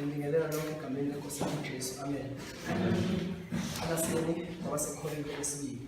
Ngibingelela lonke egameni leNkosi yami uJesu. Amen. Abaseni kwabasekholweni kwesibili.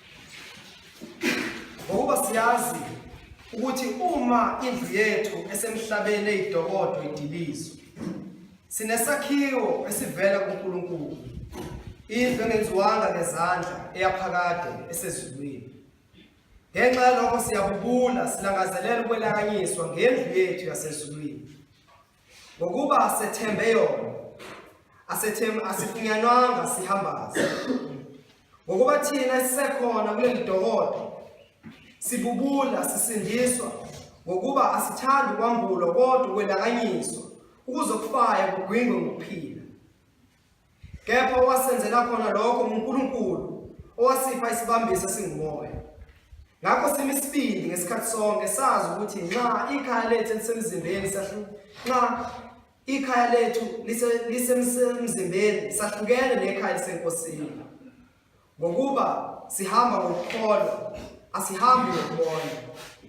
Ngokuba siyazi ukuthi uma indlu yethu esemhlabeni eyidokodo idilizwe sinesakhiwo esivela kuNkulunkulu indlu engenziwanga ngezandla eyaphakade esezulwini ngenxa yalokho siyabubula silangazelela ukwelakanyiswa ngendlu yethu yasezulwini ngokuba sethembe yona asethembe asifunyanwanga sihambaze ngokuba thina sisekhona kule mdokodo sibubula sisindiswa ngokuba asithandi kwambulwa kodwa ukwelakanyiswa ukuzokufaya kugwingwe ngokuphila Kepha owasenzela khona lokho nguNkulunkulu owasipha isibambiso esingumoya. Ngakho simi isibindi ngesikhathi sonke sazi ukuthi nxa ikhaya lethu elisemzimbeni sahlu nxa ikhaya lethu lisemzimbeni sahlukene nekhaya lisenkosini. Ngokuba sihamba ngokukholwa, asihambi ngokubona.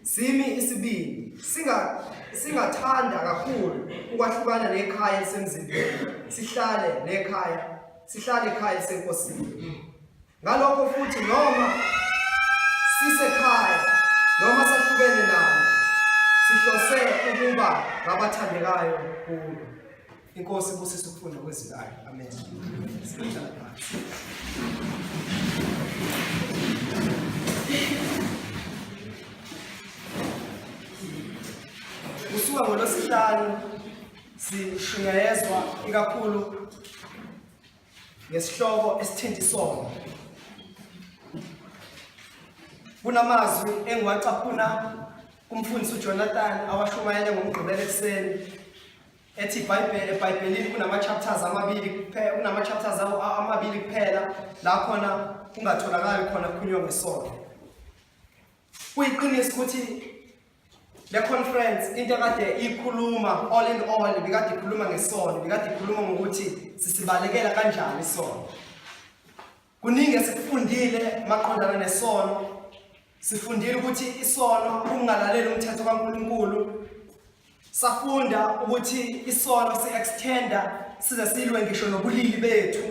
Simi isibindi, singa singathanda kakhulu ukwahlukana nekhaya elisemzimbeni, sihlale nekhaya, sihlale ekhaya elisenkosini. Ngalokho futhi noma sisekhaya noma sahlukene nalo, sihlose ukuba ngabathandekayo kulo. Inkosi ibusise ukufunda kwezwi layo. Amen. Sihlala phansi. Kusuka ngolosihlanu sishunyayezwa ikakhulu ngesihloko esithinta isono. Kunamazwi engiwacaphuna kumfundisi uJonathan awashumayele ngomgqibelo ekuseni ethi ibhayibheli ebhayibhelini kunama-chapters amabili kuphela kunama-chapters awo a- amabili kuphela la khona kungatholakali khona kukhulunywa ngesono kuyiqiniso ukuthi le conference into ekade ikhuluma all in all bikade ikhuluma ngesono bikade ikhuluma ngokuthi sisibalekela kanjani isono Kuningi esikufundile maqondana nesono. Sifundile ukuthi isono ukungalaleli umthetho kaNkulunkulu. Safunda ukuthi isono si-extenda size silwe ngisho nobulili bethu.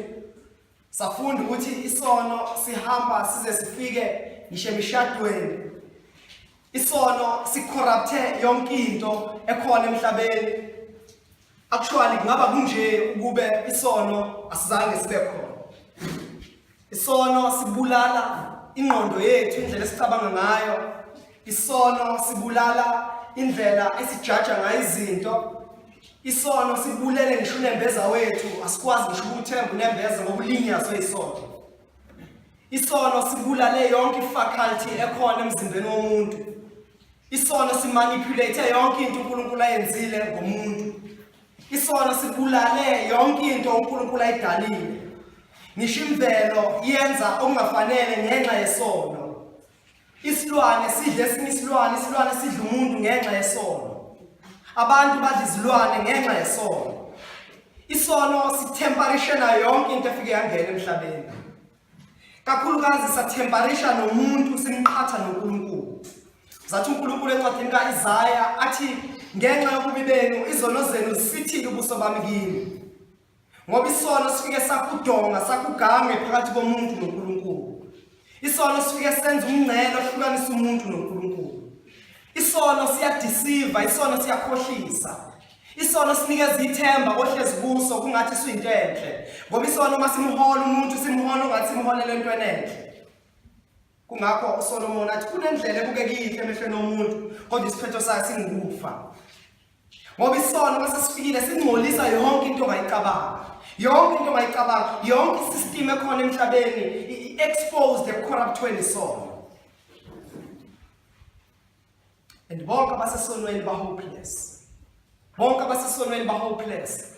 Safunda ukuthi isono sihamba size sifike ngisho emishadweni. Isono sicorrupte yonke into ekhona emhlabeni. Actually kungaba kunje ukube isono asizange sibe khona. Isono sibulala ingqondo yethu indlela esicabanga ngayo. Isono sibulala indlela esijaja ngayo izinto. Isono sibulele ngisho unembeza wethu asikwazi ngisho ukuthemba unembeza ngokulinyazwe isono. Isono sibulale yonke ifaculty ekhona emzimbeni womuntu. Isono simanipulate yonke into uNkulunkulu ayenzile ngomuntu. Isono sibulale yonke into uNkulunkulu ayidalile. Ngisho imvelo yenza okungafanele ngenxa yesono. Isilwane sidle esinye isilwane, isilwane sidla umuntu ngenxa yesono. Abantu badla izilwane ngenxa yesono. Isono sithemparishela yonke into efike yangena emhlabeni. kakhulukazi sathembarisha nomuntu simqhatha noNkulunkulu zathi uNkulunkulu encwadini kaIsaya athi ngenxa yokubi benu izono zenu zisithile ubuso bami kini ngoba isono sifike sakudonga sakugange phakathi komuntu noNkulunkulu isono sifike senza umngcele ohlukanisa umuntu noNkulunkulu isono siyadisiva isono siyakhohlisa Isono sinikeza ithemba ohlezi kuso kungathi suyinto enhle ngoba isono uma simhola umuntu simhola ungathi simholela entweni enhle kungakho uSolomon athi kunendlela ebukekile emehlweni omuntu kodwa isiphetho sayo singukufa ngoba isono uma sesifikile singcolisa yonke into ongayicabanga yonke into ongayicabanga yonke isystem ekhona emhlabeni i-exposed ekucorruptweni isono and bonke abasesonweni ba hopeless bonke abasesonweni ba hopeless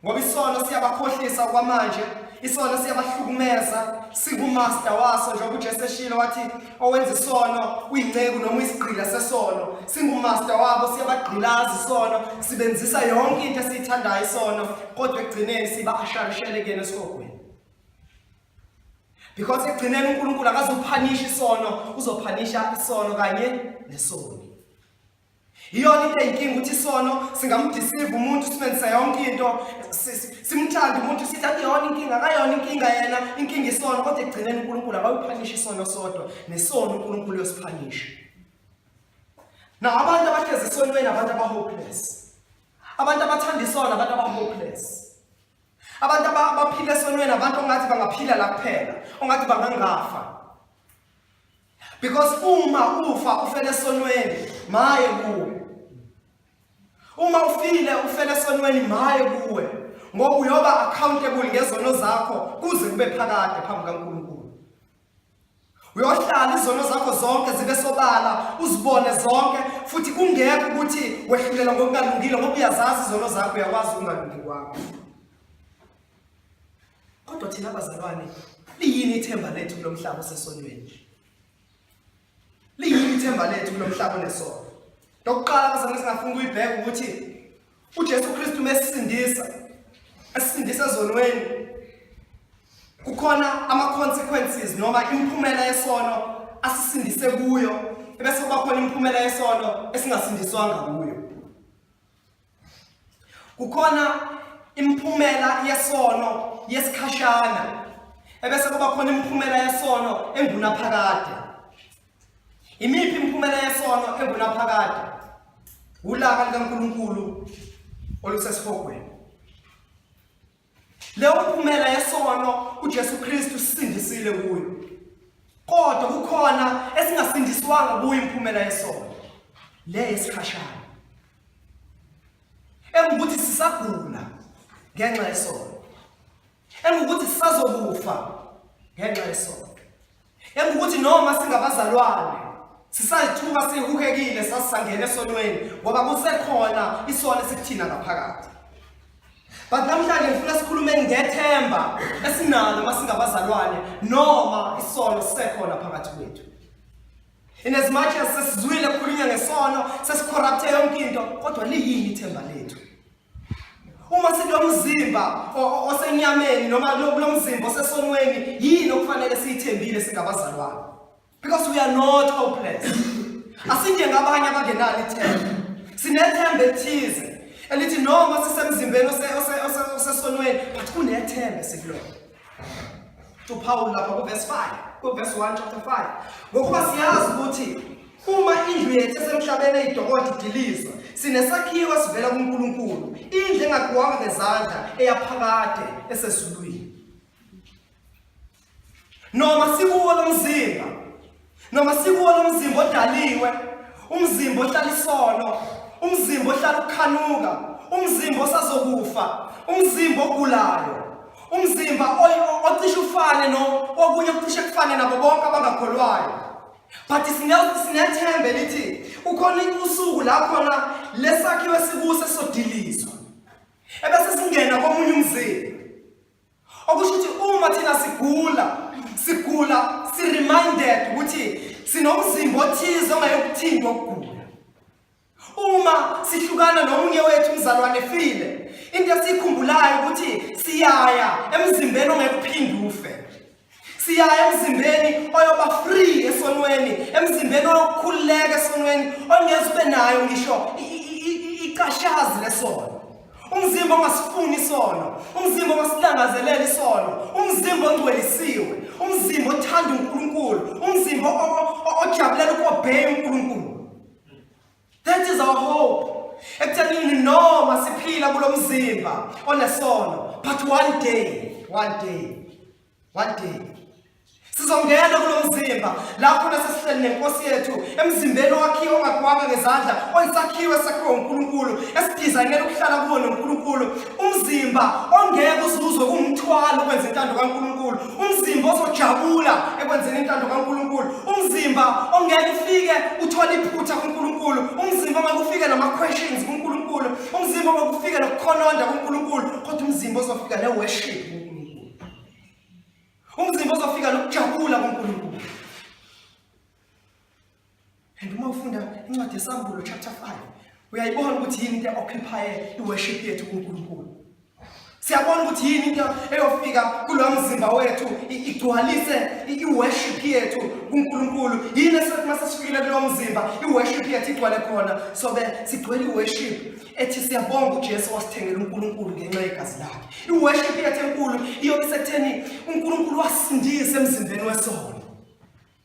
ngoba isono siyabakhohlisa kwamanje isono siyabahlukumeza singumaster waso njengoba uJesu eshilo wathi owenza isono uyinceku noma uyisigqila sesono singumaster wabo siyabagqilaza isono sibenzisa yonke into esiyithandayo isono kodwa ekugcineni siba asharishele kuyena esihogweni because ekugcineni uNkulunkulu akazophanisha isono uzophanisha isono kanye nesoni iyona into eyinkinga ukuthi isono singamdisiva umuntu simenzisa yonke into simthanda umuntu sithi akuyona inkinga akayona inkinga yena inkinga isono kodwa ekugcineni uNkulunkulu akawuphanisha isono sodwa nesono uNkulunkulu uyosiphanisha na abantu abahlezi esonweni abantu abahopeless abantu abathanda isono abantu abahopeless abantu abaphila esonweni abantu ongathi bangaphila la kuphela ongathi bangangafa because uma ufa ufele esonweni maye kuwe uma ufile ufele esonweni maye kuwe ngoba uyoba accountable ngezono zakho kuze kube phakade phambi kaNkulunkulu uyohlala izono zakho zonke zibe sobala uzibone zonke futhi kungekho ukuthi wehlulelwa ngokungalungile ngoba uyazazi izono zakho uyakwazi ukungalungi kwakho kodwa thina abazalwane liyini ithemba lethu kulo mhlaba osesonweni liyini ithemba lethu kulo mhlaba onesono lokuqala bazalwane singafuna ukuyibheka ukuthi uJesu Kristu mesisindisa esindisa ezonweni kukhona ama consequences noma imphumela yesono asisindise kuyo ebese kuba khona imphumela yesono esingasindiswanga kuyo kukhona imphumela yesono yesikhashana ebese kuba khona imphumela yesono engunaphakade Imiphi imiphumela yesono engunaphakade? Ulaka likaNkulunkulu olusesihogweni. Leyo mphumela yesono uJesu Kristu sisindisile kuyo. Kodwa kukhona esingasindiswanga kuyo imphumela yesono. Le yesikhashana. Engukuthi sisagula ngenxa yesono. engukuthi sisazokufa ngenxa yesono engukuthi noma singabazalwane sisalithuka sihukekile sasisangena esonweni ngoba kusekhona isono esikuthina ngaphakathi but namhlanje ngifuna sikhulume ngethemba esinalo uma singabazalwane noma isono sisekhona phakathi kwethu in as much as sesizwile kukhulunywa ngesono sesicorrupte yonke into kodwa liyini ithemba lethu Uma sinomzimba osenyameni noma kulomzimba osesonweni yini okufanele siyithembile singabazalwane? Because we are not hopeless. Asinjengabanye abangenalo ithemba. Sinethemba elithize elithi noma sisemzimbeni osesonweni but kunethemba esikulona. uPawulu lapha kuverse 5 kuverse 1 chapter 5 ngokuba siyazi ukuthi uma indlu yethu esemhlabeni eyidokotha idilizwa sinesakhiwo esivela kuNkulunkulu indlu engakhiwanga ngezandla eyaphakade esezulwini noma sikuwo lomzimba noma sikuwona umzimba odaliwe umzimba ohlala isono umzimba ohlala ukukhanuka umzimba osazokufa umzimba ogulayo umzimba ocishe ufane no okunye okucishe kufane nabo bonke abangakholwayo but sinethembe lithi ukhona usuku la khona lesakhiwe sikuso sodilizwa ebese singena komunye umzimba okusho ukuthi uma thina sigula sigula si-reminded ukuthi sinomzimba othize ongayokuthintwa ukugula uma sihlukana nomunye wethu umzalwane efile into esiyikhumbulayo ukuthi siyaya emzimbeni ongekuphinde ufe siya emzimbeni oyoba free esonweni emzimbeni oyokukhululeka esonweni ongeze ube nayo ngisho icashazi lesono umzimba ongasifuni isono umzimba ongasilangazelela isono umzimba ongcwelisiwe umzimba othanda unkulunkulu umzimba ojabulela ukobheya unkulunkulu That is our hope. Ekuthenini noma siphila kulomzimba onesono but one day, one day, one day sizongena kulomzimba lapho nasesihleli nenkosi yethu emzimbeni owakhiwe ongagwanga ngezandla oyisakhiwe sakhiwe uNkulunkulu esidizayinela ukuhlala kuwo noNkulunkulu umzimba ongeke uzuzwe kumthwalo ukwenza intando kaNkulunkulu umzimba ozojabula ekwenzeni intando kaNkulunkulu umzimba ongeke ufike uthole iphutha kuNkulunkulu umzimba ongeke ufike nama questions kuNkulunkulu umzimba ongeke ufike nokukhononda kuNkulunkulu kodwa umzimba ozofika ne worship kuNkulunkulu umzimba ozofika nokujabula kuNkulunkulu And uma ufunda incwadi yeSambulo chapter 5 uyayibona ukuthi yini into eoccupy iworship yethu kuNkulunkulu. Siyabona ukuthi yini into eyofika kulo mzimba wethu igcwalise iworship yethu kuNkulunkulu. Yini esothi masesifikile kulo mzimba iworship yethu igcwale khona sobe sigcwele iworship ethi siyabonga uJesu wasithengela uNkulunkulu ngenxa yegazi lakhe. Iworship yethu enkulu iyobe sekutheni uNkulunkulu wasindisa emzimbeni wesono.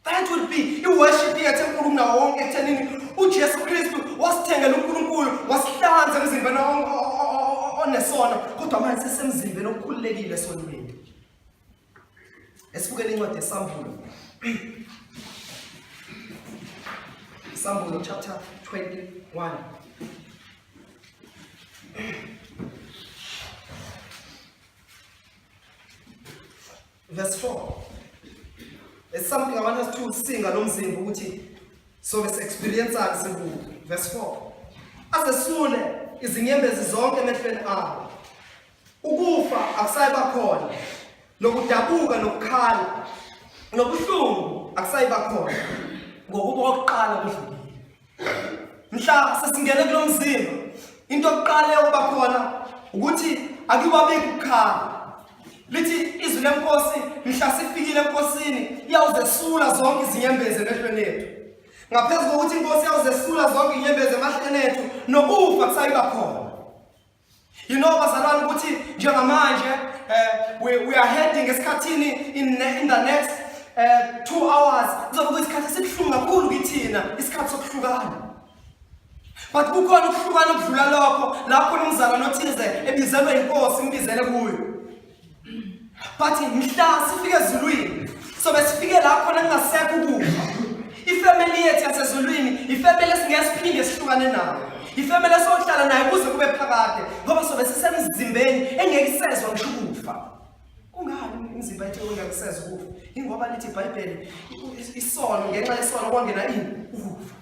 That would be i-worship yethu enkulu kunawo wonke ekuthenini uJesu Kristu wasithengela uNkulunkulu wasihlanza emzimbeni onesona kodwa manje sesemzimbeni okukhululekile esonweni. Esibukele incwadi yeSambulo. Sambulo chapter 21. Verse 4. It's something I want us to sing alomzimba ukuthi so let's experience sikubo. Verse 4. Azesule izinyembezi zonke emehlweni abo. Ukufa akusayiba khona. Nokudabuka nokukhala. Nobuhlungu akusayiba khona. Ngokuba okuqala kudlulile. mhla sesingene kulo mzimba into okuqala eyokuba khona ukuthi akiwabeki ukukhala lithi izwi lenkosi mhla sifikile enkosini iyawuzesula zonke izinyembezi emehlweni ethu ngaphezu kokuthi inkosi iyawuzesula zonke inyembezi emahleni ethu nokufa kusayiba khona You know bazalwane ukuthi njengamanje uh, we, we are heading esikhathini in, in the next uh, two hours kuzoba kuyisikhathi esibuhlungu kakhulu kithina isikhathi sokuhlukana but kukhona ukuhlukana okudlula lokho lapho umzalwane othize ebizelwe inkosi imbizele kuyo Bathi mhla sifike ezulwini sobe sifike la khona kungasekho ukufa. Ifamily yethu yasezulwini ifamily esingeke siphinde sihlukane nayo. Ifamily esohlala nayo kuze kube phakade ngoba sobe sisemzimbeni engeke isezwa ngisho ukufa. Kungani imizimba yethu engeke isezwa ukufa? Ingoba lithi iBhayibheli isono ngenxa yesono kwangena ini? Ukufa.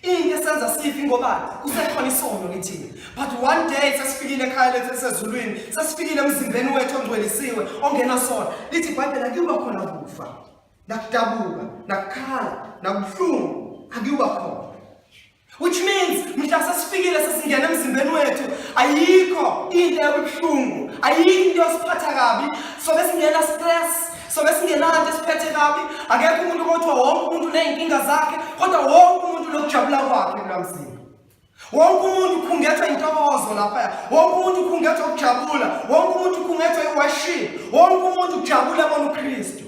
Into esenza sifi ngobani? Kusekhona isono kithina. But one day sesifikile ekhaya lethu esezulwini, sesifikile emzimbeni wethu ongcwelisiwe, ongenasona. Lithi iBhayibheli akuba khona kufa, nakudabuka, nakukhala, nakubuhlungu, akuba khona. Which means mhla sesifikile sesingena emzimbeni wethu ayikho into ebuhlungu, ayikho into esiphatha kabi, so besingena stress sobe singenanto esiphethe kabi akekho umuntu kothiwa wonke umuntu uney'nkinga zakhe kodwa wonke umuntu lokujabula kwakhe kulamzini wonke umuntu ukhungethwa intokozo laphaya wonke umuntu ukhungethwa ukujabula wonke umuntu ukhungethwa iwaship wonke umuntu ujabula bona ukristu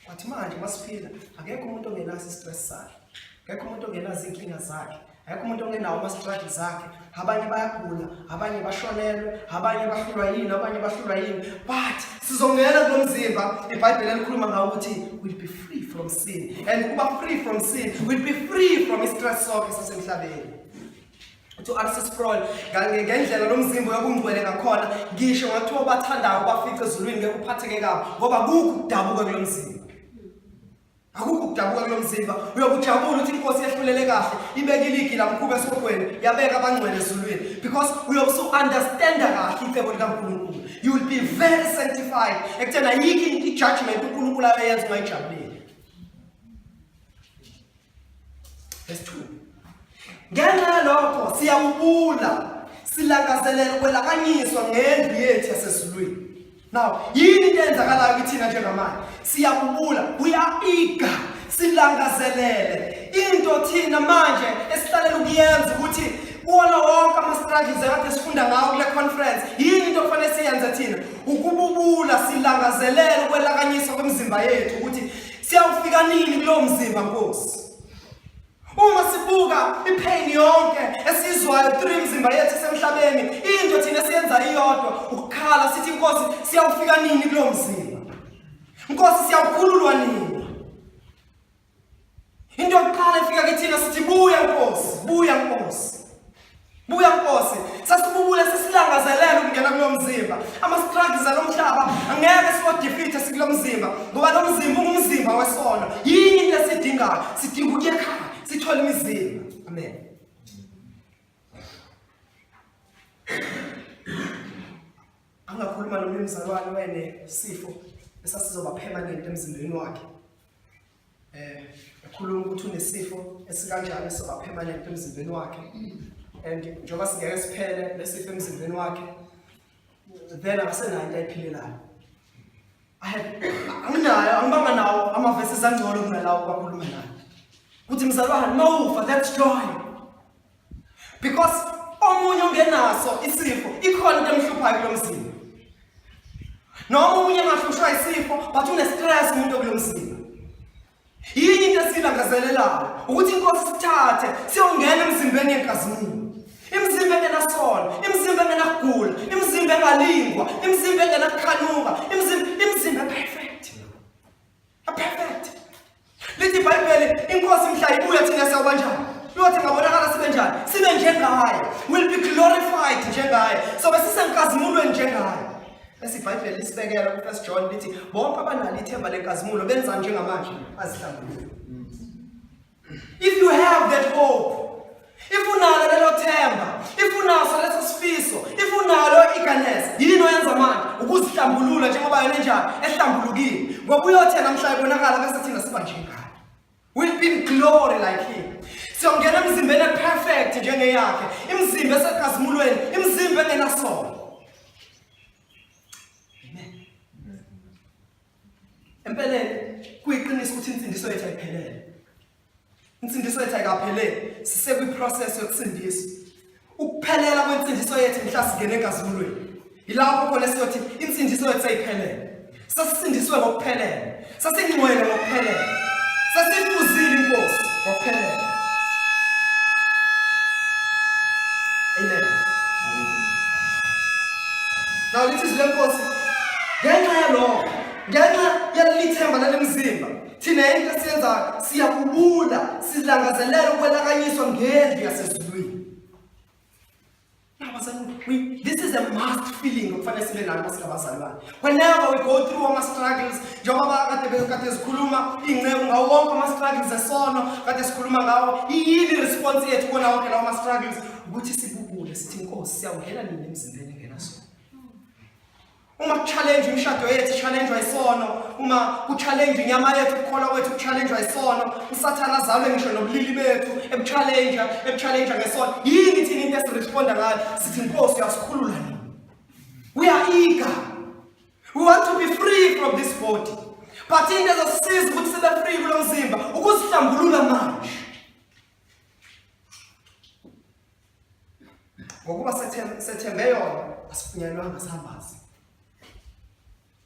wathi manje masiphila akekho umuntu ongenaso istress sakhe akekho umuntu ongenazo iy'nkinga zakhe Akekho umuntu ongenawo ama-struggle zakhe abanye bayagula abanye bashonelwe abanye bahlulwa yini abanye bahlulwa yini but sizongena kulo mzimba ibhayibheli elikhuluma ngawo ukuthi will be free from sin and ukuba free from sin will be free from i-stress sonke sasemhlabeni to access prol ngendlela lo mzimba uyokungcwele ngakhona ngisho ngathiwa obathandayo bafice ezulwini ngeke uphatheke kabi ngoba kukho ukudabuka kulo mzimba akukho ukudabuka kulo mzimba uyokujabula ukuthi inkosi yehlulele kahle ibeka iligi lamkhuba esihogweni yabeka abangcwele ezulwini because uyobe usu-understanda kahle icebo likankulunkulu you will be very sanctified ekuthena yikho i-judgment unkulunkulu ayoyenza ungayijabuleli Verse 2. Ngenxa yalokho siyakubula silangazelela ukwelakanyiswa ngendlu yethu yasezulwini. Now, yini into eyenzakalayo kithina njengamanje? Siyakubula, we are eager, silangazelele. Into thina manje esihlalela ukuyenza ukuthi kuwona wonke ama-struggles ekade sifunda ngawo kule conference yini into okufanele siyenze thina ukububula silangazelele ukwelakanyiswa kwemizimba yethu ukuthi Siyawufika nini kulowo mzimba Nkosi? Uma sibuka ipain yonke esizwayo through imizimba yethu esemhlabeni, into thina siyenza iyodwa ukukhala sithi Nkosi siyawufika nini kulowo mzimba? Nkosi siyawukhululwa nini? Into yokuqala efika kithina sithi buya Nkosi, buya Nkosi. Buya Nkosi, sasibubule sesilangazelela ukungena kulo mzimba. Ama-struggles alo mhlaba angeke siwadefeathe sikulo mzimba ngoba lo mzimba ungumzimba wesono. Yini into esidingayo? Sidinga ukuya ekhaya sithole imizimba. Amen. Angakhuluma nomnye umzalwane wene sifo esasizoba permanent emzimbeni wakhe. eh ekhuluma ukuthi unesifo esikanjani esiba permanent emzimbeni wakhe and njengoba singeke siphele lesifo emzimbeni wakhe then akasenayo into ayiphilelayo anginayo angibanga nawo amavesi ezangcono kunalawo kwakhuluma nayo ukuthi mzalwane uma ufa that's joy because omunye ongenaso isifo ikhona into emhluphayo kulo mzimba noma omunye engahlushwa isifo but une-stress umuntu okulo mzimba yini into esiyilangazelelayo ukuthi inkosi sithathe siyongena emzimbeni yenkazimulo imizimba engenasona imizimba engenakugula imizimba engalingwa imizimba engenakukhanuka imizimba imizimba ephefeyo Perfect. Lithi iBhayibheli inkosi mhla ibuya thina sawuba njani? Lothi ngabonakala sibe njani? Sibe njengaye. Will be glorified njengaye. So besisenkazimulweni njengaye. Bese iBhayibheli lisibekela ku-1 John lithi bonke abanalo ithemba lenkazimulo benza njengamanje azihlambulule. If you have that hope, if unalo lelo themba, if unaso leso sifiso, if unalo eagerness, yini oyenza manje? Ukuzihlambulula njengoba yona enjani, ehlambulukile. Ngoba uyothe namhla ibonakala bese thina siba njengani. We'll be in glory like him. Siyongena emzimbeni eperfect njengeyakhe, imizimba esekazimulweni, imizimba engenasono. Empeleni kuyiqiniso ukuthi insindiso yethu ayiphelele. Insindiso yethu ayikaphelele, sisekwi-process yokusindiswa. Ukuphelela kwensindiso yethu mhla singena enkazimulweni. Yilapho khona siyothi insindiso yethu ayiphelele. Sasisindiswe ngokuphelele, sasingcwele ngokuphelele, sasifuzile inkosi ngokuphelele. Now lithi izwi lenkosi ngenxa yalokho ngenxa yalelithemba lalemzimba thina yini esiyenzayo siyakubula silangazelela ukwelakanyiswa ngendlu yasezulwini nabazalwane this is a must feeling okufanele sibe nayo masingabazalwane Whenever we go through our struggles, njengoba kade bekade sikhuluma ingceku ngawo wonke ama struggles esono kade sikhuluma ngawo iyini response yethu kona wonke lawo ma struggles ukuthi sibubule sithi inkosi siyawungena nini emzimbeni ngena so uma kuchallenge imishado yethu challenge isono uma kuchallenge inyama yethu ukukholwa kwethu kuchallenge isono usathana azalwe ngisho nobulili bethu ebuchallenge ebuchallenge ngesono yini thina into esiresponda ngayo sithi inkosi yasikhulula nini We are eager. We want to be free from this body. But into ezosisiza ukuthi sibe free kulo mzimba ukusihlambulula manje. Ngokuba sethembe yona asifunyanwanga sambazi.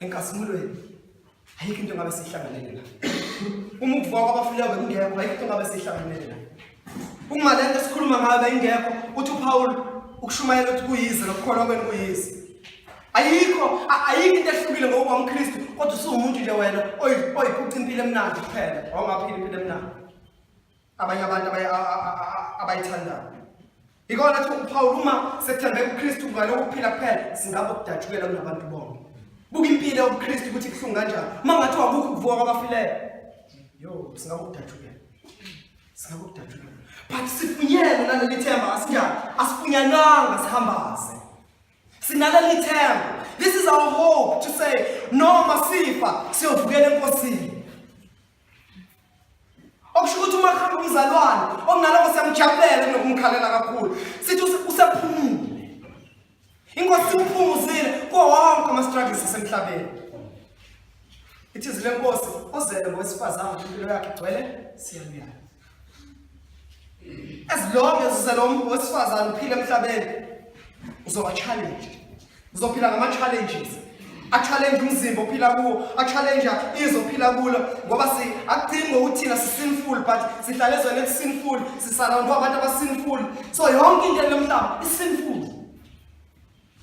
Enkasimulweni ayikho into ngabe sihlanganele la. Uma ukuvuka kwabafileyo bekungekho ayikho into ngabe sihlanganele la. Uma lento esikhuluma ngayo beyingekho uthi uPaul ukushumayela ukuthi kuyize lokukholwa kwenu kuyize. Ayikho ayikho into ehlukile ngokuba umKristu kodwa usuwumuntu nje wena oyiphuca impilo emnandi kuphela. Awungaphili impilo emnandi. abanye abantu abayithandayo ikona thi uphawula uma sethembe kuKristu ngalo ukuphila kuphela singabe kudajukela kunabantu bonke buka impilo yobuKristu ukuthi kuhlungu kanjani uma ngathi wakukho ukuvuka kwabafileyo yo singabe kudajukela singabe kudajukela but sifunyele naleli themba asinjani asifunyananga sihambaze sinaleli themba this is our hope to say noma sifa siyovukela enkosini okusho ukuthi uma khamba umzalwane okunaloko siyamjabulela kunokumkhalela kakhulu sithi usephumule inkosi simphumuzile kuwo wonke ama-struggles asemhlabeni ithizi lenkosi ozele ngowesifazane impilo yakhe igcwele siyaluyala as long as uselomntu wesifazane uphila emhlabeni uzoba challenge uzophila ngama-challenges a-challenge umzimba ophila kuwo a-challenge izwe ophila kulo ngoba si akudingi ngokuthina si-sinful but sihlale ezweni eli-sinful sisarawundwa abantu aba-sinful so yonke into elomhlaba i-sinful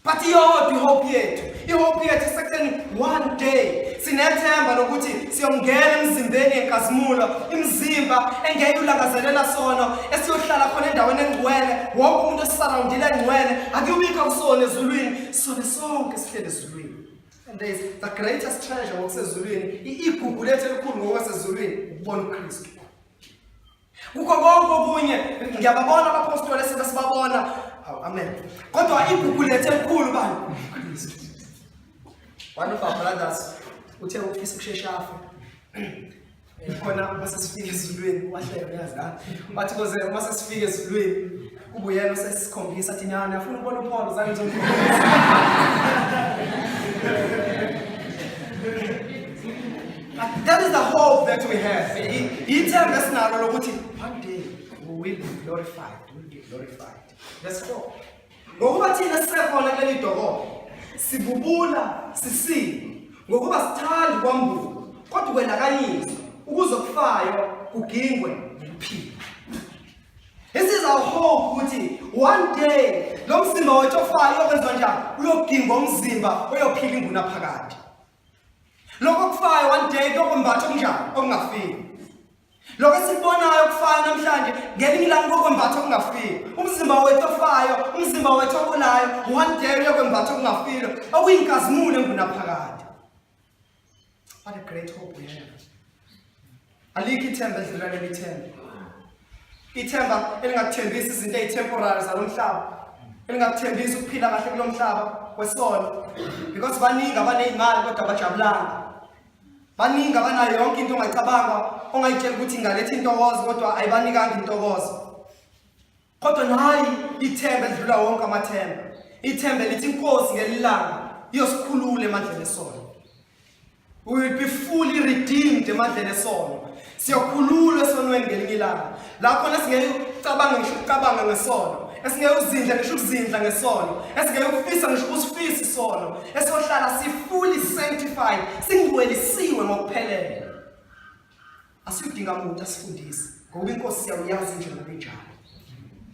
But iyodwa ihope yethu. Ihope yethu isekutheni one day sinethemba lokuthi siyongena emzimbeni yenkazimulo, imizimba engeke ulangazelela sona, esiyohlala khona endaweni engcwele, wonke umuntu esisurroundile engcwele, akuyubikho kusona ezulwini, sona sonke sihlele ezulwini. And there is the greatest treasure ngokusezulwini, igugu lethu elikhulu ngokwasezulwini, ukubona uKristu. Kukho konke okunye ngiyababona abapostoli esibe sibabona. Hawu amen. Kodwa igugu lethu elikhulu bani. One of our brothers uthe ufisa ukushesha afe. Khona uma sesifika ezulwini wahleka uyazi la. Wathi koze uma sesifika ezulwini Kubuyela usesikhombisa athi nyana uyafuna ukubona uPaul zange ngizokhombisa. That is the hope that we have. Ithemba esinalo lokuthi one day we will be glorified. We will be glorified. Let's go. Ngokuba thina sisekhona kuleli dokolo sibubula sisile ngokuba sithanda ukwambuka kodwa kwelakanyiswa ukuze okufayo kugingwe nokuphila This is our hope ukuthi one day lo mzimba wethu ofayo uyokwenziwa njani? Uyogingwa umzimba oyophila inguna phakade. Lokho kufayo one day kuyokwembatha okunjani? Okungafiki. Lokho esikubonayo kufayo namhlanje ngelinye ilanga kuyokwembatha okungafiki. Umzimba wethu ofayo, umzimba wethu ogulayo one day uyokwembatha okungafile okuyinkazimulo enguna phakade. What a great hope we have. Alikho ithemba edlula leli themba. Ithemba elingakuthembisi izinto ezitemporary zalomhlaba. Elingakuthembisi ukuphila kahle kulomhlaba kwesono. Because baningi abanezimali kodwa bajabulanga. Baningi abanayo yonke into ongayicabanga ongayitshela ukuthi ingaletha intokozo kodwa ayibanikanga intokozo. Kodwa nayi ithemba edlula wonke amathemba. Ithemba lithi inkosi ngelilanga iyosikhulula emandleni esono. We will be fully redeemed emandleni esono. Siyokhululwa esonweni ngelinye ilanga. Lapho nesingeke ucabanga ngisho ukucabanga ngesono. Esingeke uzindla ngisho ukuzindla ngesono. Esingeke ukufisa ngisho ukusifisa isono. Esohlala si fully sanctified, singcwelisiwe ngokuphelele. Asidinga muntu asifundise ngoba inkosi siyawuyazi nje ngokunjalo.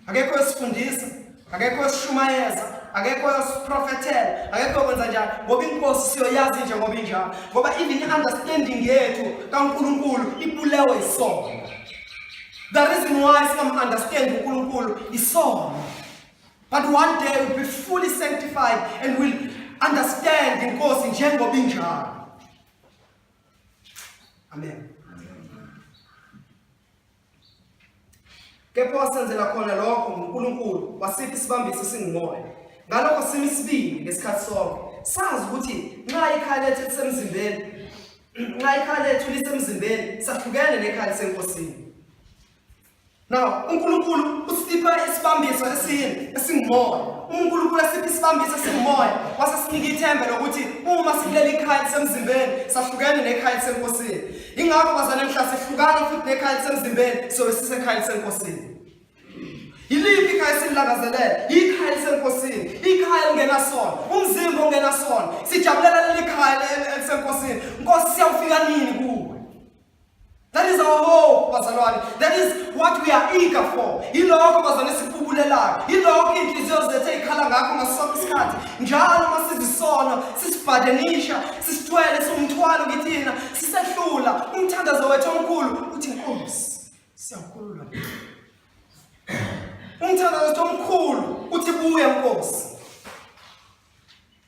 Akekho esifundisa, akekho esishumayeza, akekho esiprofethela, akekho kwenza njalo ngoba inkosi siyoyazi nje ngoba injalo. Ngoba even i-understanding yethu kaNkulunkulu ibulewe isono. The reason why singamu-understand uNkulunkulu isono. But one day we'll be fully sanctified and we'll understand inkosi njengoba injalo. Amen. Kepha wasenzela khona lokho nguNkulunkulu wasipha isibambiso singumoya. Ngalokho simi sibili ngesikhathi sonke. Sazi ukuthi nxa ikhaya lethu lisemzimbeni nxa ikhaya lethu lisemzimbeni sahlukene nekhaya lisenkosini. Now, uNkulunkulu usipha isibambiso esini esingumoya. UNkulunkulu asipha isibambiso esingumoya, wase sinika ithemba lokuthi uma sikuleli ikhaya lisemzimbeni, sahlukene nekhaya lisenkosini. Ingakho bazana mhla sihlukana futhi nekhaya lisemzimbeni, so sisekhaya lisenkosini. Yiliphi ikhaya esilangazelele? Ikhaya lisenkosini, ikhaya lingenasona, umzimba ongenasona. Sijabulela leli khaya lisenkosini. Nkosi siyawufika nini kuwe? That is our hope bazalwane. That is what we are eager for. Yilokho bazalwane sikubulelayo. Yilokho inhliziyo zethu ezikhala ngakho ngaso sonke isikhathi. Njalo uma sizisono, sisibhadenisha, sisithwele somthwalo kithina, sisehlula umthandazo wethu omkhulu uthi Nkosi, siyakhulula. Umthandazo wethu omkhulu uthi buya Nkosi.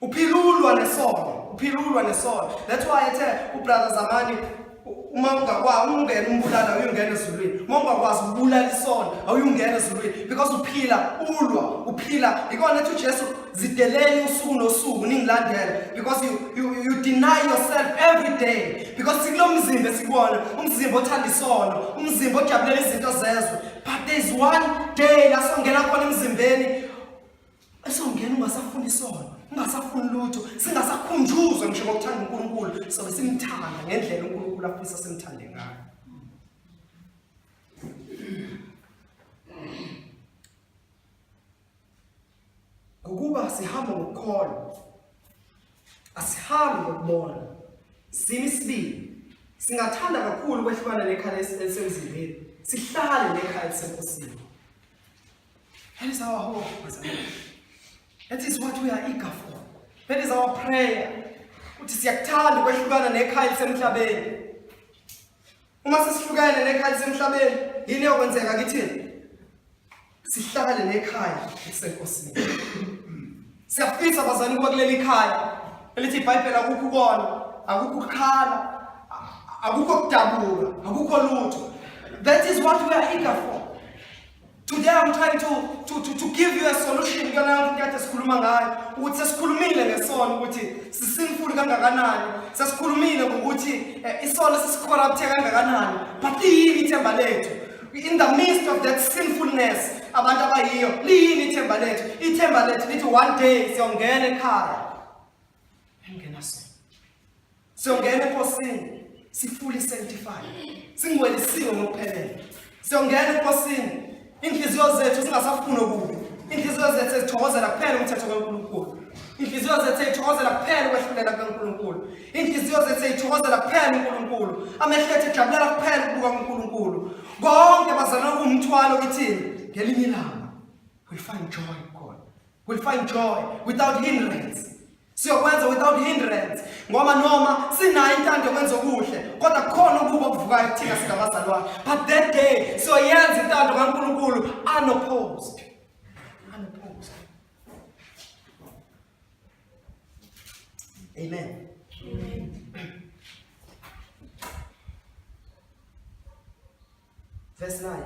Uphilulwa nesono, uphilulwa nesono. That's why ethe ubrother Zamani uma ungakwazi ungena umbulala uyongena ezulwini uma ungakwazi ukubulala isono awuyungena ezulwini because uphila ulwa uphila ikona ethi ujesu zideleni usuku nosuku ningilandela because you, you, you deny yourself every day because sikulo mzimba esikuwona umzimba othanda isono umzimba ojabulela izinto zezwe but there is one day lasongena khona emzimbeni esongena ungasafuni isono ungasafuni lutho singasakhunjuzwa ngisho ngokuthanda uNkulunkulu sobe simthanda ngendlela uNkulunkulu afisa simthande ngayo ngokuba sihamba ngokukholwa asihambi ngokubona simi sibili singathanda kakhulu kwehlukana nekhaya elisemzimbeni sihlale nekhaya elisenkosini That is our hope, That is what we are eager for. That is our prayer. Uthi siyakuthanda ukwehlukana nekhaya lisemhlabeni. Uma sesihlukene nekhaya lisemhlabeni, yini eyokwenzeka kithina? Sihlale nekhaya lisenkosini. Siyafisa bazali ukuba kuleli khaya elithi iBhayibheli akukho ukona, akukho ukukhala, akukho ukudabuka, akukho lutho. That is what we are eager for. Today I'm trying to to to, to give you a solution kuyona into kade sikhuluma ngayo ukuthi sesikhulumile ngesono ukuthi sisinful kangakanani sesikhulumile ngokuthi eh, isono sisicorrupte kangakanani but liyini ithemba lethu in the midst of that sinfulness abantu abayiyo liyini ithemba lethu ithemba lethu lithi one day siyongena ekhaya Engena so. Siyongena enkosini sifuli sanctified. Singwelisiwe ngokuphelele. Siyongena enkosini inhliziyo zethu singasafuni okubi. Inhliziyo zethu ezithokozela kuphela umthetho kaNkulunkulu. Inhliziyo zethu ezithokozela kuphela ukwehlulela kaNkulunkulu. Inhliziyo zethu ezithokozela kuphela uNkulunkulu. Amehlo ethu ejabulela kuphela ukubuka uNkulunkulu. Konke bazalwa kumthwalo kithina ngelinye ilanga. We find joy. We'll find joy without hindrance. Siyokwenza without hindrance ngoba noma sinayo intando yokwenza okuhle kodwa kukhona ukuba okuvukayo kuthina singabazali wakhe. But that day siyoyenza intando kaNkulunkulu unopposed. Unopposed. Amen. Amen. Verse 9.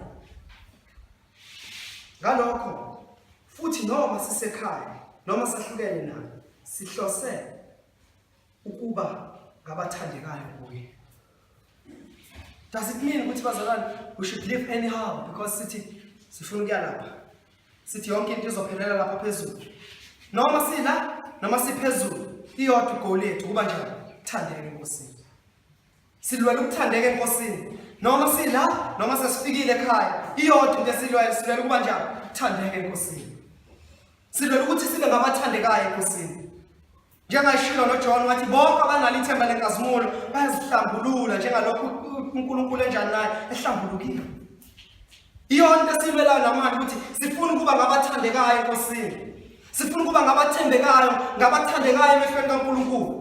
Ngalokho futhi noma sisekhaya noma sahlukene naye sihlose ukuba ngabathandekayo kuye. Does it mean ukuthi bazalwane we should live anyhow because sithi sifuna ukuya lapha. Sithi yonke into izophelela lapha phezulu. Noma sila noma siphezulu iyodwa igoli yethu kuba njani? Thandeke iNkosi. Silwela ukuthandeka enkosini noma sila noma sesifikile ekhaya iyodwa into esilwela silwela ukuba njani thandeka enkosini silwela ukuthi sibe ngabathandekayo enkosini njengayishilo noJohn wathi bonke abanalo ithemba lenkazimulo bayazihlambulula njengalokhu uNkulunkulu enjani naye ehlambulukile iyona into esilwelayo namanje ukuthi sifuna ukuba ngabathandekayo enkosini sifuna ukuba ngabathembekayo ngabathandekayo emehlweni kaNkulunkulu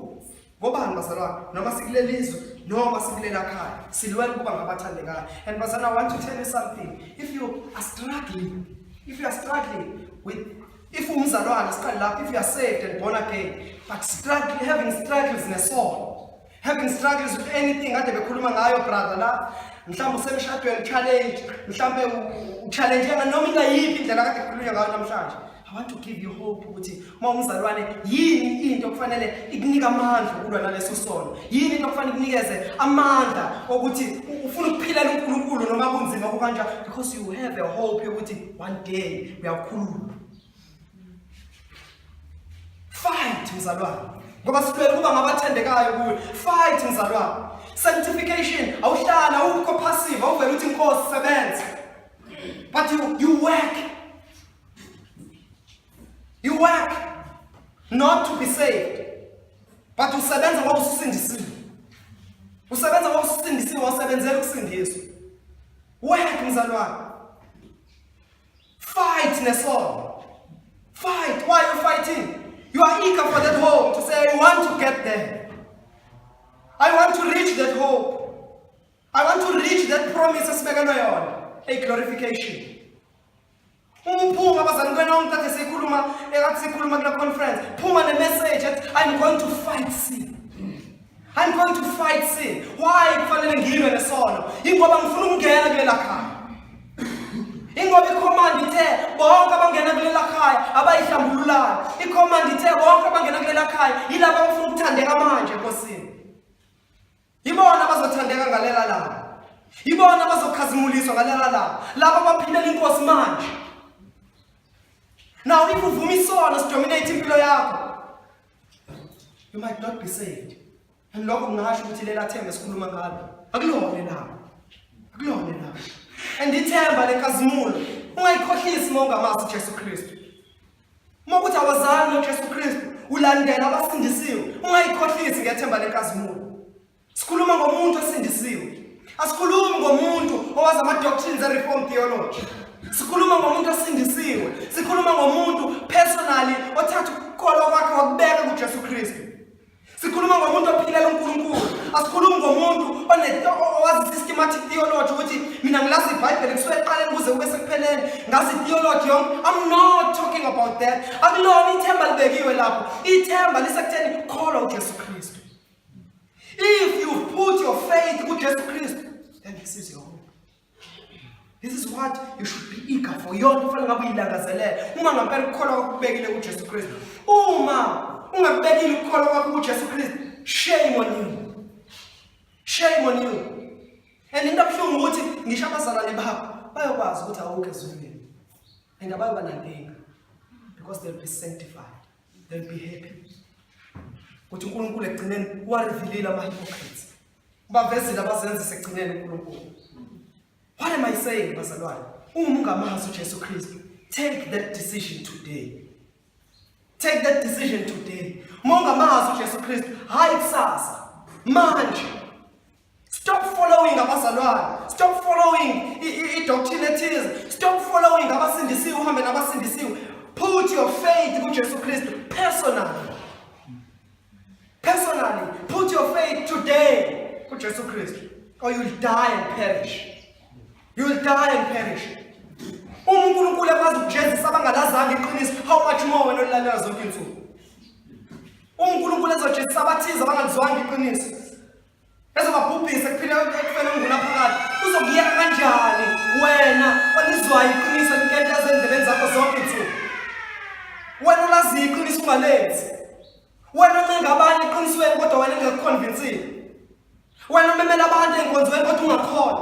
ngobani bazalwane noma sikuleli izwe noma sikulela khaya silwela ukuba ngabathandekayo and bazana i want to tell you something if you are struggling if you are struggling with if umzalwane siqale lapho if you are saved and born again but struggle, having struggles nesono having struggles with anything kade bekhuluma ngayo brother la mhlawumbe usemshadweni challenge mhlawumbe uchallenge noma ingayiphi indlela kade kukhulunywa ngayo namhlanje I want to give you hope ukuthi uma umzalwane yini into okufanele ikunika amandla ukulwa naleso sono yini into okufanele ikunikeze amandla okuthi ufuna ukuphilela uNkulunkulu noma kunzima kukanjani because you have a hope yokuthi one day uyakhuluma fight mzalwane ngoba sifela ukuba ngabathandekayo kuwe fight mzalwane sanctification awuhlala ukho passive awuvela uthi inkosi sebenza but you, you work You work not to be saved, but usebenza ngoba usindisiwe. Usebenza ngoba usindisiwe, wasebenzela ukusindiswa. Work mzalwane. Fight nesono. Fight. Why are you fighting? You are eager for that hope to say, I want to get there. I want to reach that hope. I want to reach that promise esibekelwe yona, a glorification. Uma uphuma abazali kwenonke kade sikhuluma ekade sikhuluma kula conference phuma ne message ethi I'm going to fight sin. I'm going to fight sin. Why kufanele ngilwe nesono? Ingoba ngifuna ukungena kulela khaya. Ingoba ikhomandi ithe bonke abangena kulela khaya abayihlambululayo. Ikhomandi ithe bonke abangena kulela khaya yilabo abafuna ukuthandeka manje enkosini. Ibona bazothandeka ngalela langa. Ibona bazokhazimuliswa ngalela langa. Laba baphilela inkosi manje. Now if uvuma isono sidominate impilo yakho. You might not be saved. And lokho kungasho ukuthi lela themba esikhuluma ngalo akulona elabo. Akulona elabo. And ithemba lenkazimulo ungayikhohlisi uma ungamazi uJesu Kristu. Uma ukuthi awazali ngoJesu Kristu, ulandela abasindisiwe, ungayikhohlisi ngethemba lenkazimulo. Sikhuluma ngomuntu osindisiwe. Asikhulumi ngomuntu owazi ama-doctrines e-reform theology. Sikhuluma ngomuntu osindisiwe. Sikhuluma ngomuntu personally othatha ukukholwa kwakhe wakubeka kuJesu Kristu. Sikhuluma ngomuntu ophilela uNkulunkulu. Asikhulumi ngomuntu owazi systematic theology ukuthi mina ngilazi iBhayibheli kusuka eqaleni kuze kube sekupheleni. Ngazi theology yonke. I'm not talking about that. Akulona ithemba libekiwe lapho. Ithemba lisekutheni kholwa uJesu Kristu. If you put your faith kuJesu Kristu, then this is your hope. This is what you should be eager for. Yona kufanele ngabe uyilangazelela. Uma ngampela ukukholwa kwakho kubekile kuJesu Kristu. Uma ungabekile ukukholwa kwakho kuJesu Kristu, shame on you. Shame on you. And into abuhlungu ukuthi ngisho abazalwane bakho bayokwazi ukuthi awukho ezulwini. And abayoba nankinga because they'll be sanctified. They'll be happy. Ukuthi uNkulunkulu ekugcineni warevealile ama hypocrites. Ubavezile abazenza sekugcineni uNkulunkulu. What am I saying bazalwane? Uma ungamazi uJesu Kristu, take that decision today. Take that decision today. Uma ungamazi uJesu Kristu, hayi kusasa. Manje. Stop following abazalwane. Stop following i-doctrine ethize. Stop following abasindisiwe uhambe nabasindisiwe. Put your faith kuJesu Kristu personally. Personally, put your faith today with Jesus Christ, or you'll die and perish. You'll die and perish. Uma uNkulunkulu ekwazi ukujezisa abangalazanga iqiniso, how much more wena olilalela zonke insuku? Uma uNkulunkulu ezojezisa abathize abangalizwanga iqiniso, ezobabhubhisa kuphila ekufela ungula phakathi uzokuyeka kanjani wena olizwayo iqiniso enkento ezendlebeni zakho zonke nsuku wena olaziyo iqiniso ungalenzi wena oncenga abanye eqinisweni kodwa wena engekukhonvinsile wena umemela abantu ey'nkonzweni kodwa ungakhona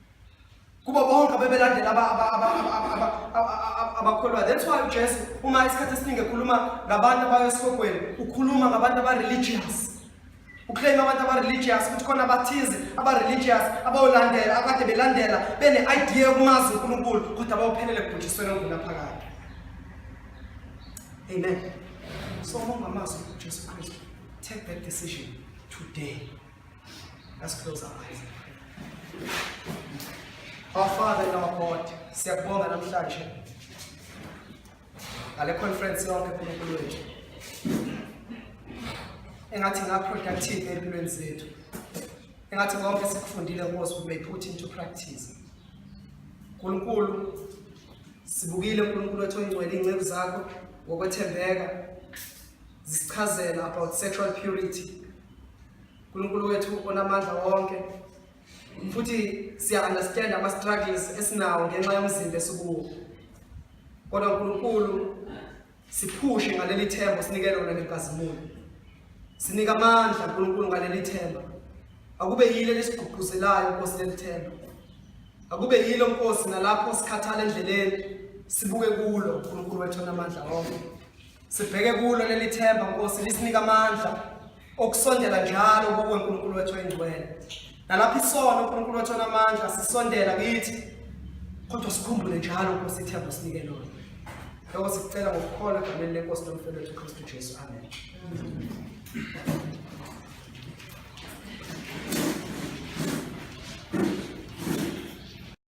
kubo bonke abebelandela abakholwayo that's why ujesu uma isikhathi esiningi ekhuluma ngabantu abayo esihogweni ukhuluma ngabantu aba-religious uclaim abantu aba-religious ukuthi khona abathize aba-religious abayolandela akade belandela bene-idea yokumazi unkulunkulu kodwa abawuphelele ekubhujisweni onguna phakathi amen so uma ungamazwi ujesu kristu take that decision today Let's close our eyes. Our Father and our God, siyakubonga namhlanje ngale conference yonke kuNkulunkulu wethu engathi ngaproductive empilweni zethu engathi konke sikufundile Nkosi we may put into practice Nkulunkulu sibukile uNkulunkulu wethu ongcwele ingceku zakho ngokwethembeka zisichazela about sexual purity uNkulunkulu wethu onamandla wonke futhi siya understand ama struggles esinawo ngenxa yomzimba esikuwo kodwa uNkulunkulu siphushe ngaleli themba sinike lona ngegazimulo sinika amandla uNkulunkulu ngaleli themba akube yile lesigqugquzelayo Nkosi leli themba akube yilo Nkosi nalapho sikhathala endleleni sibuke kulo uNkulunkulu wethu onamandla wonke Sibheke kulo leli themba Nkosi lisinika amandla okusondela njalo kuwe Nkulunkulu wethu oyingcwele. Nalapho isono Nkulunkulu wethu onamandla sisondela kithi kodwa sikhumbule njalo Nkosi ithemba osinike lona. Lokho sikucela ngokukhona egameni lenkosi nomfelo wethu uKristu Jesu. Amen.